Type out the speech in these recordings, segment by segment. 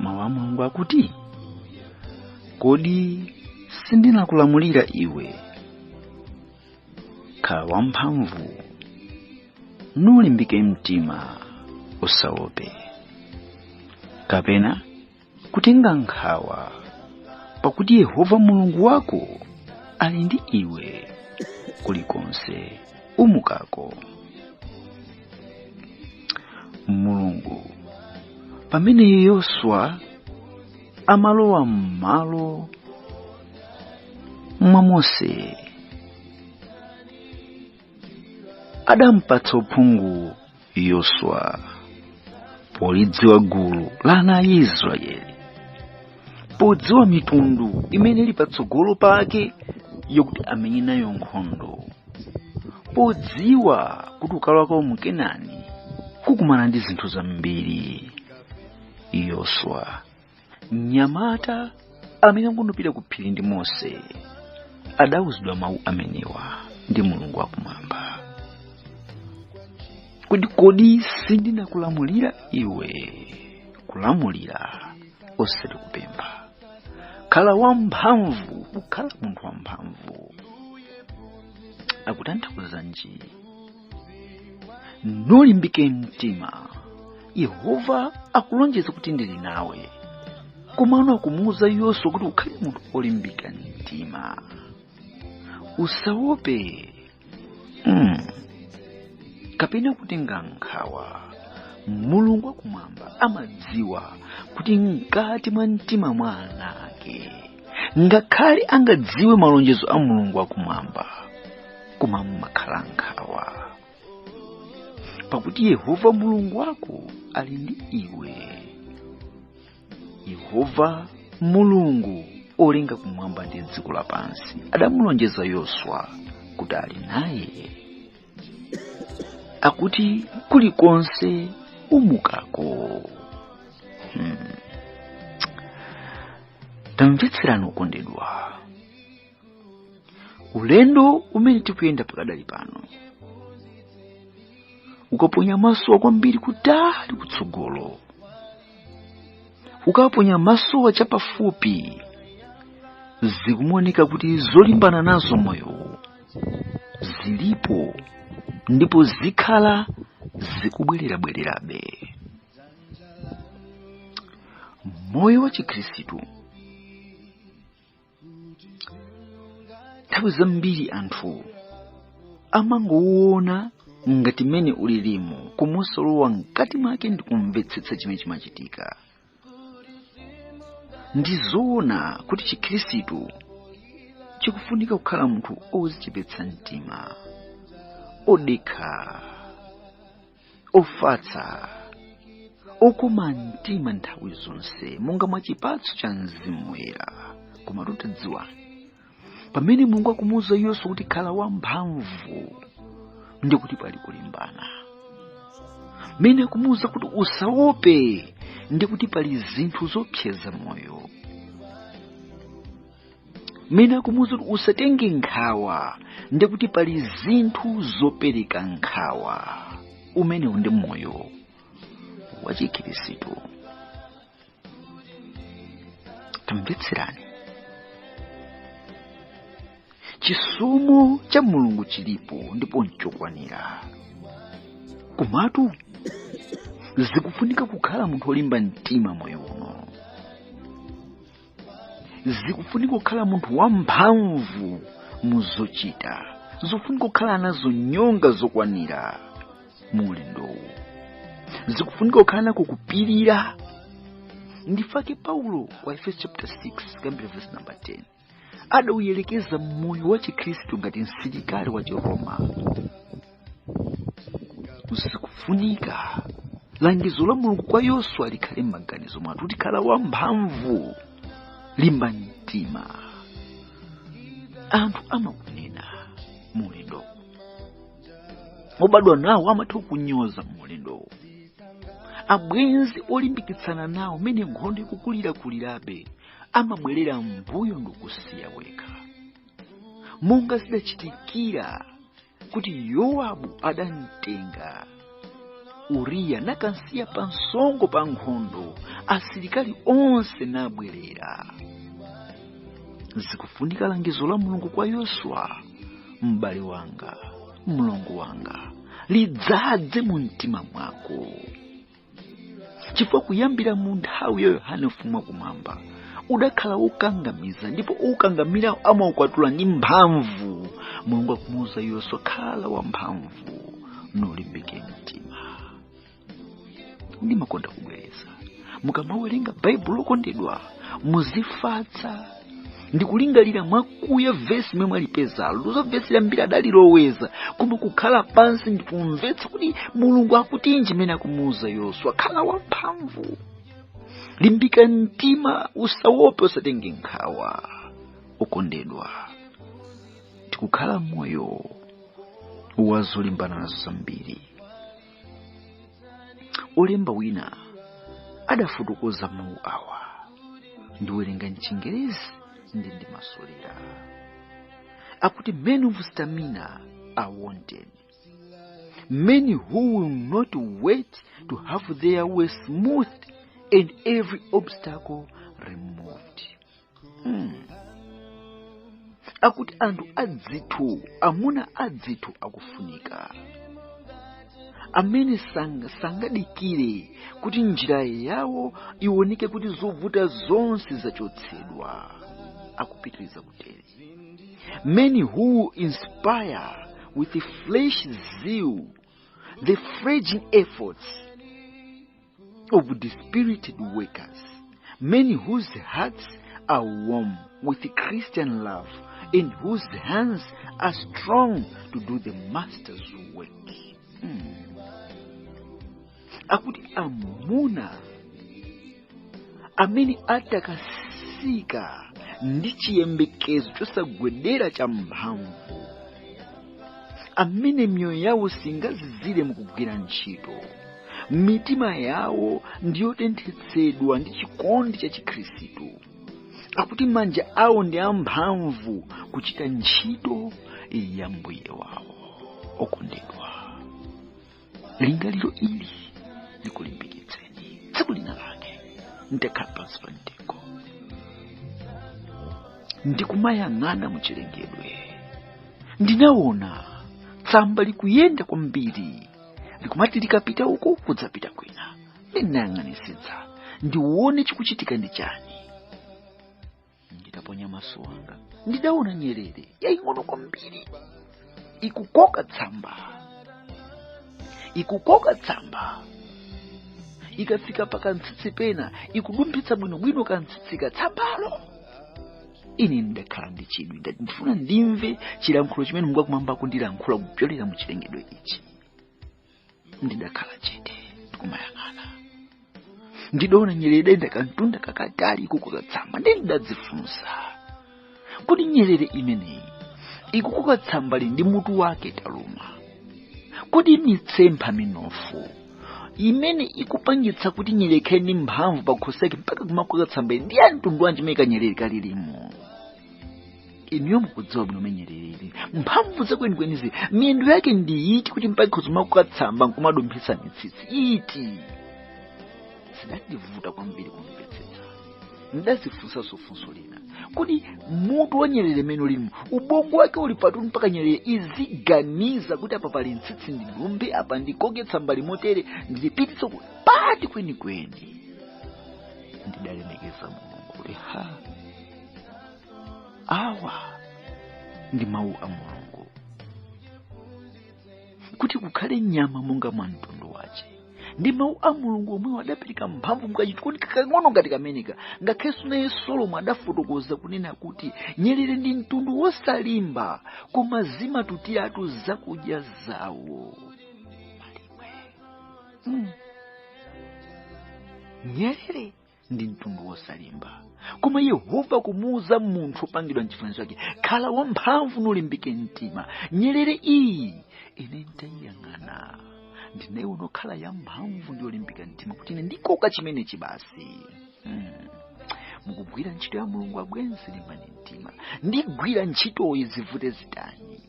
mawu a mulungu akuti kodi sindinakulamulira iwe khala wamphamvu nulimbike mtima usaope kapena kutenga nkhawa pakuti yehova mulungu wako ali ndi iwe kulikonse umukako mulungu pamene yoswa amalowa m'malo mwa mose adamupatsa uphungu yoswa polidziwa gulu la ana a israeli podziwa mitundu imene ili patsogolo pake yokuti amenye nayo nkhondo podziwa kuti kukalowa kwawo mu kenani kukumana ndi zinthu zambiri yoswa mnyamata amene ankangopita ku phiri ndi mose adawuzidwa mawu amenewa ndi mulungu wakumwamba kuti kodi sindinakulamulira iwe kulamulira osati kupempha khala wamphamvu kukhala munthu wamphamvu akutanthauzanji nulimbike mtima yehova akulonjeza kuti ndili nawe komano akumuwuza yoswa kuti ukhale munthu olimbika mtima usaope mm. kapena kutenga nkhawa mulungu wakumwamba amadziwa kuti mkati mwa mtima mwa ana ake ngakhale angawadziwe malonjezo a mulungu akumwamba koma mumakhala nkhawa pakuti yehova mulungu wako ali ndi iwe yehova mulungu olenga kumwamba ndi dziko lapansi adamulonjeza yoswa kuti ali naye akuti kulikonse umukako hmm. tamvetserani okondedwa ulendo umene tikuyenda pakadali pano ukaponya maso kwambiri kutali kutsogolo ukaponya maso chapafupi zikuwoneka kuti zolimbana nazo moyo zilipo ndipo zikhala zikubwerera bwererabe moyo wa chikhristu nthawi zambiri anthu amangowona ngati mmene ulilimu koma osalowa mkati mwake ndi kumvetsetsa chimene chimachitika ndi zoona kuti chikhristu chikufunika kukhala munthu ozichepetsa mtima odekha ofatsa okoma mtima nthawi zonse monga mwa chipatso cha mzimu woyera koma tatadziwani pamene mulungu akumuwuza yoswa kuti khala wamphamvu ndi kuti pali kulimbana pamene akumuwuza kuti usaope ndi kuti pali zinthu zopseza moyo mene akumuuza kuti usatenge nkhawa ndi kuti pali zinthu zopereka nkhawa umenewu ndi moyo wa chikhristu tamvetserani chisomo cha mulungu chilipo ndipo nchokwanira komatu zikufunika kukhala munthu olimba mtima moyo uno zikufunika kukhala munthu wamphamvu mu zochita zikufunika kukhala nazo nyonga zokwanira mu ulendowu zikufunika kukhala nako kupirira ndi chifukwa chake paulo kwa aefeso chapter 6 kuyambira verse number 10 adauyerekeza moyo wa chikhristu ngati msilikali wa chiroma zikufunika langizo la mulungu kwa yoswa likhale m'maganizo mwathu kuti khala wamphamvu limba mtima anthu amakunena mu ulendowu obadwa nawo amatha kukunyoza mu ulendowu abwenzi olimbikitsana nawo mene nkhondo ikukulirakulirabe amabwerera mbuyo ndikusiya wekha monga zidachitikira kuti yowabu adamtenga uriya nakamsiya pa msongo pa nkhondo asilikali onse nabwerera zikufunika langizo la mulungu kwa yoswa m'bale wanga mlongo wanga lidzadze mu mtima mwako chifukwa kuyambira mu nthawi ya yohane ufumu wakumwamba udakhala wokangamiza ndipo okangamira amaukwatula ndi mphamvu mulungu akumuwuza yoswa khala wamphamvu nulimbike mtima ndimakonda kubwereza mukamawerenga baibulo okondedwa muzifatsa ndikulingalira mwakuya vesi lomwe mwalipezalo ndizo vesili ambiri adaliloweza koma kukhala pansi ndikumvetsa kuti mulungu akutinji mene akumuuza yoswa khala wamphamvu limbika mtima usawope usatenge nkhawa okondedwa tikukhala moyo wazolimbana nazo zambiri olemba wina adafotokoza mawu awa ndiwerenga mchingerezi ndi ndimasulira akuti men of stamina are wanted men who will not wait to have their way smoothed and every obstacle removed akuti anthu adzitho amuna adzitho akufunika amene sang- sangadikire kuti njira yawo iwoneke kuti zovuta zonse zachotsedwa akupitiriza kutere men who will inspire with fresh zeal the flagging efforts of dispirited workers, men whose hearts are warm with Christian love and whose hands are strong to do the master's work. Hmm. akuti amuna amene atakasika ndi chiyembekezo chosagwedera champhamvu amene miyoyo yawo singazizire mukugwira ntchito mitima yawo ndiyotenthetsedwa ndi chikondi cha chikhristu akuti manja awo ndi amphamvu kuchita ntchito ya mbuye wawo okondedwa lingaliro ili likulimbikitseni tsiku lina lake ndidakhala pansi pa mtengo ndikumayang'ana muchilengedwe ndinaona tsamba likuyenda kwambiri likumati likapita uku kudzapita kwina ndinayang'anisitsa ndione chikuchitika ndi chani nditaponya maso anga ndidaona nyerere yaying'ono kwambiri ikukoka tsamba ikukoka tsamba ikafika pa kantsitsi pena ikudumphitsa bwinobwino kantsitsika tsambalo ine ndidakhala ndi chidwi ndati ndifuna ndimve chilankhulo chimene mulungu akukhumba kundilankhula kupyolera mu chilengedwe ichi ndidakhala chete ndikumayang'ana ndidaona nyerere idayenda kamtunda kakatali ikukoka tsamba ndiye ndidadzifunsa kodi nyerere imeneyi ikukoka tsambali ndi mutu wake italuma kodi mitsempha minofu imene ikupangitsa kuti nyerere ikhale ndi mphamvu pa khosi yake mpaka kumakoka tsambali ndi ya mtundu wanji imene kanyerere kali ndi imo inuyo mukudziwa bwino nyerereyi mphamvu zake zenizenizi miyendo yake ndi iti kuti mpaka kumakoka tsamba nkumadumphitsa mitsitsi ndi iti zidandivuta kwambiri kumvetsetsa ndidadzifunsanso funso lina kodi mutu wa nyerere nanga lino ubongo wake uli pati mpaka nyerere iziganiza kuti apa pali mtsitsi ndidumphe apa ndikoke tsamba ili motere ndilipititse uku ndi pati kwenikweni ndidalemekeza mulungu kuti ha awa ndi mawu a mulungu kuti kukhale nyama monga mwa mtundu wake ndi mawu a mulungu omwewo adapereka mphamvu mu kachinthu kuti kakang'ono ngati kameneka ngakhalenso naye solomo adafotokoza kunena kuti nyerere ndi mtundu wosalimba koma zimatutiratu zakudya zawo malimwe mm. nyerere ndi mtundu wosalimba koma yehova akumuuza munthu opangidwa mchifanizo chake khala wamphamvu nulimbike mtima nyerere iyi ine nditayiyang'ana ndinaona ikukhala yamphamvu ndi yolimbika mtima kuti ine ndikoka chimenechi basi mm. mukugwira ntchito ya mulungu abwenzi limbani mtima ndigwira ntchitoyi zivute zitani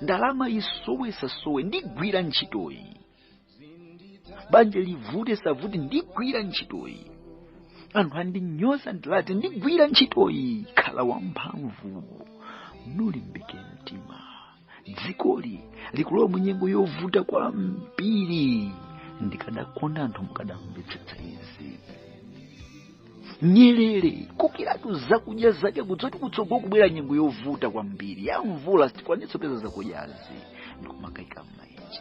ndalama isowe isasowe ndigwira ntchitoyi banja livute lisavute ndigwira ntchitoyi anthu andinyoze ndi anati ndigwira ntchitoyi khala wamphamvu nulimbike mtima dzikoli likulowa mu nyengo yovuta kwambiri ndikadakonda anthu mukadamvetsetsa izi nyerere kukokeratu zakudya zake kudziwa kuti kutsogolo kukubwera nyengo yovuta kwambiri ya mvula sitikwanitsa kupeza zakudyazi ndikumakaika m'maenje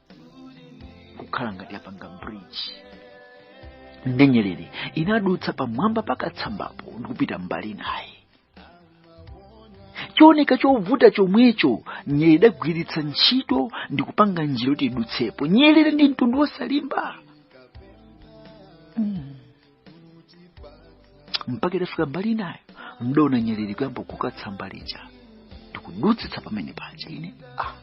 kukhala ngati yapanga bridge ndi nyerere inadutsa pamwamba pa katsambapo ndi kupita mbali inayo chooneka chovuta chomwecho nyerere idagwiritsa ntchito ndi kupanga njira yoti idutsepo nyerere ndi mtundu wosalimba mm. mpaka itafika mbali inayo ndidaona nyerere ikuyamba kukoka tsamba lija ndikudutsitsa pamene paja ine ah.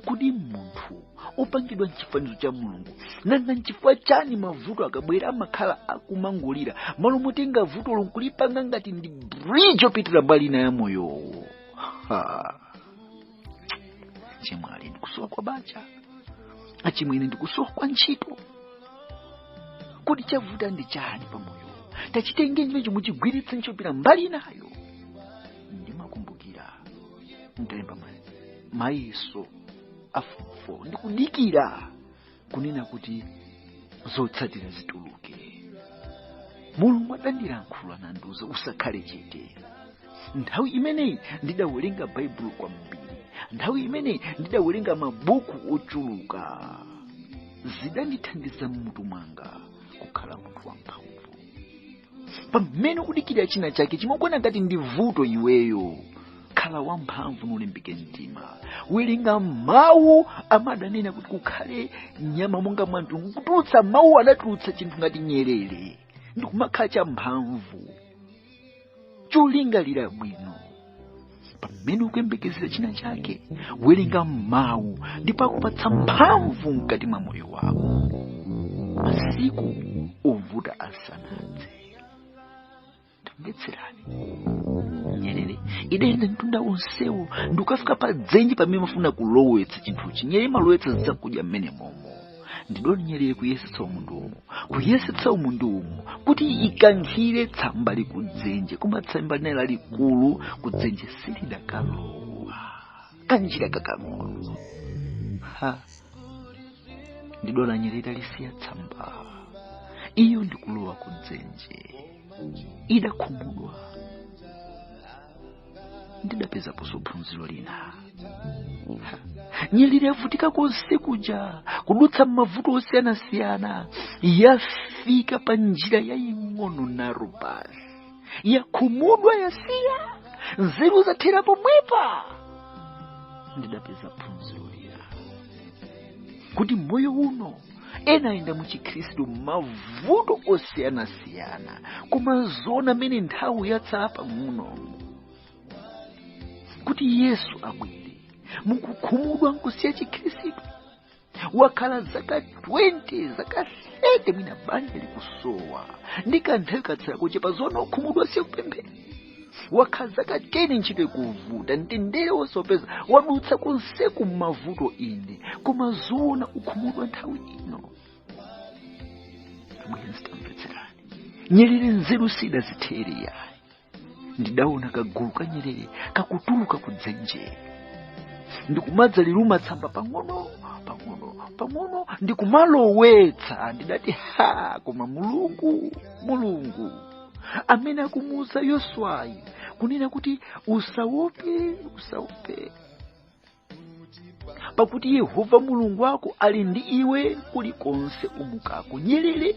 kodi munthu opangidwa mchifanizo cha mulungu nanga nchifukwa chani mavuto akabwera amakhala akumangolira mmalo motenga vuto lo nkulipanga ngati ndi bridge opitira mbali ina ya moyowo ha. chemwali ndikusowa kwa banja achimwene ndikusowa kwa ntchito kodi chavuta ndi chani pamoyo tachitenge ntchito chomwe muchigwiritse nchopira mbali inayo ndimakumbukira nditalemba mayeso a fomu fo ndikudikira kunena kuti zotsatira zituluke mulungu adandilankhula nandiuza usakhale chete nthawi imeneyi ndidawerenga baibulo kwambiri nthawi imeneyi ndidawerenga mabuku ochuluka zidandithandiza mmutu mwanga kukhala munthu wamphamvu pamene ukudikirira china chake chimwe ukuona ngati ndi vuto iweyo khala wamphamvu ndi ulimbike mtima werenga mawu amadanena kuti kukhale nyama monga mwa mtundu kutulutsa mawu adatulutsa chinthu ngati nyerere ndikumakhala champhamvu cholingalira bwino pamene ukuyembekezera china chake werenga mawu ndipo akupatsa mphamvu mkati mwa moyo wako masiku ovuta asanadze tamvetserani nyerere idayenda mtunda wonsewo ndikafika pa dzenje pamene imafuna kulowetsa chinthuchi nyerere imalowetsa zakudya mmene momo ndidaona nyerere kuyesetsa umu ndi umu kuyesetsa umu ndi umo kuti ikankhire tsamba lija kudzenje koma tsamba linali lalikulu kudzenje silidakalowa kanjira kakang'ono ha ndidaona nyerere italisiya tsamba iyo ndikulowa kudzenje idakhumudwa ndidapezaponso phunziro lina nyerere yavutika konse kuja kudutsa m'mavuto osiyanasiyana yafika pa njira yaying'ono nalo basi yakhumudwa yasiya nzeru zathera pomwepa ndidapeza phunziro lina kuti moyo uno ena ayenda mu chikhristu mavuto osiyanasiyana koma zoona mmene nthawi yatsala pang'ono kuti yesu abwere mukukhumudwa nkusiya chikhristu wakhala zaka 20 zaka 30 mwina banja likusowa ndi kanthawi katsala kochepa zoona ukhumudwa nkusiya kupemphera wakhala zaka 10 ntchito ikuvuta mtendere wosaupeza wadutsa konseku m'mavuto ine koma zoona ukhumudwa nthawi ino abwenzi tamvetserani nyerere nzeru sidazithere yayi ndidaona kagulu ka nyerere kakutuluka ku dzenje ndikumadza liluma tsamba pang'ono pang'ono pang'ono ndikumalowetsa ndidati ha koma mulungu mulungu amene akumuuza yoswayi kunena kuti usaope usaope pakuti yehova mulungu wako ali ndi iwe kulikonse umukako nyerere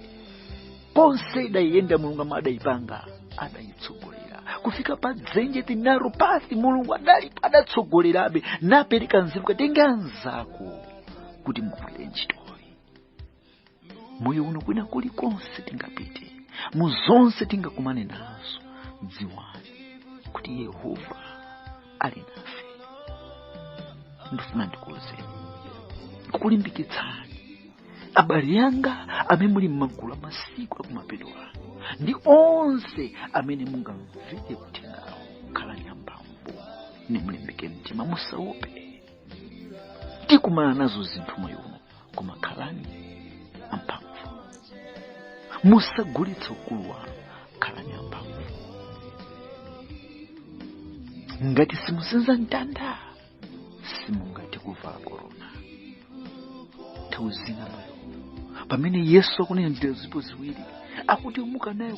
konse idayiyenda mulungu amene adayipanga adayitsogolera kufika pa dzenje ndi narrow path mulungu adalipo adatsogolerabe napereka nzeru katenge anzako kuti mugwire ntchito moyo uno kwina kulikonse tingapite mu zonse tingakumane nazo dziwani kuti yehova ali nafe ndifuna ndikukulimbikitsani abale anga amene muli m'magulu amasiku akumapeto ano ndi onse amene mungamvere uthengawu khalani amphamvu nimulimbike mtima musaope tikumana nazo zinthu moyo uno koma khalani amphamvu musagulitse ukulu wanu khalani amphamvu ngati simusenza mtanda simungati kuvala korona nthawi zina moyo pamene yesu akunena njira zipo ziwiri akuti yomuka nayo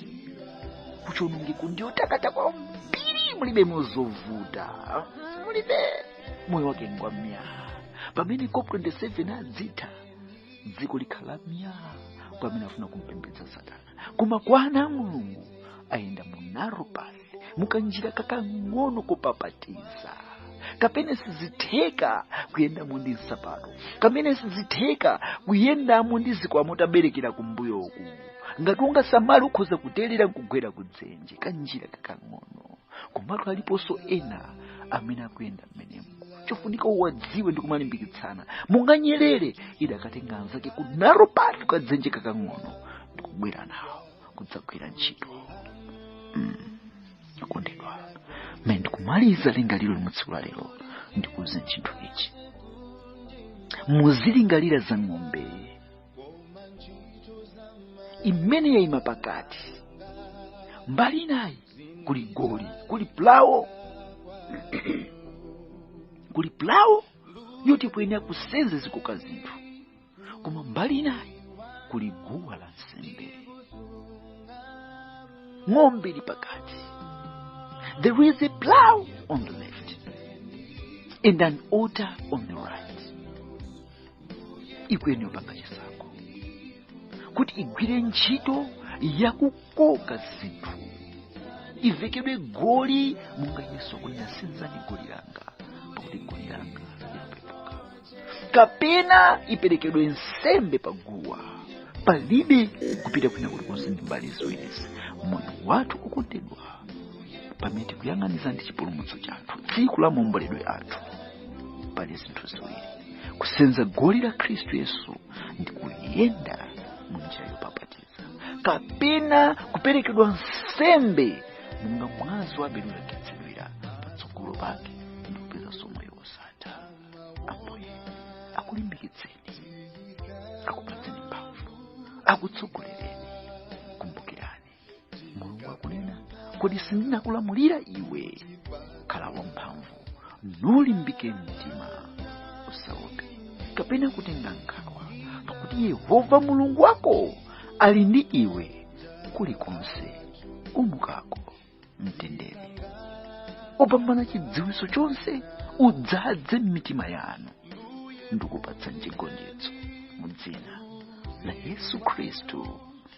kuchonongeko ndiyo takata kwambiri mulibe mo zovuta mulibe moyo wake ngwa myaa pamene cop 27 adzati dziko likhala myaa kwa amene afuna kumpembedza satana koma kwa ana a mulungu ayenda mu narrow path mukanjira kakang'ono kopapatiza kamene sizitheka kuyendamo ndi nsapato kamene sizitheka kuyendamo ndi zikwama utaberekera kumbuyoku ngati sungasamale ukhoza kuterera nkugwera kudzenje kanjira kakang'ono komatu aliponso ena amene akuyenda mmenemo chofunika uwadziwe ndi kumalimbikitsana monga nyerere idakatenga anzake ku narrow path kadzenje kakang'ono ndi kubwera nawo kudzagwira ntchito akondedwa mmene ndikumaliza lingaliro ili mu tsiku la lero ndikuuze chinthu ichi muzilingalira za ng'ombe imene yaima pakati mbali inayi kuli goli kuli pulawo kuli pulawo yoti iyenera kusenza izikoka zinthu koma mbali inayi kuli guwa la nsembe ng'ombe ili pakati there is a plow on the left and an altar on the right ikuyenera kupanga chisankho kuti igwire ntchito yakukoka zinthu ivekedwe goli monga yesu akunena senzani goli langa pakuti goli langa likupepuka kapena iperekedwe nsembe pa guwa palibe kupita kwina kulikonse ndi mbali ziwirizi moyo wathu okondedwa pamene tikuyang'aniza ndi chipulumutso chathu tsiku la maomboledwe athu pali zinthu ziwiri kusenza goli la khristu yesu ndi kuyenda mu njira yopapatiza kapena kuperekedwa nsembe monga mwazi wa abele unakhetsedwira patsogolo pake ndi kupezanso moyo wosatha ambuye akulimbikitseni akupatseni mphamvu akutsogolereni kumbukirani mulungu akunena kodi sindinakulamulira iwe khala wamphamvu nulimbike mtima usaope kapena kutenga nkhawa pakuti yehova mulungu wako ali ndi iwe kulikonse umukako mtendere opambana chidziwitso chonse udzadze m'mitima yanu ndikupatsa chigonjetso mu dzina la yesu khristu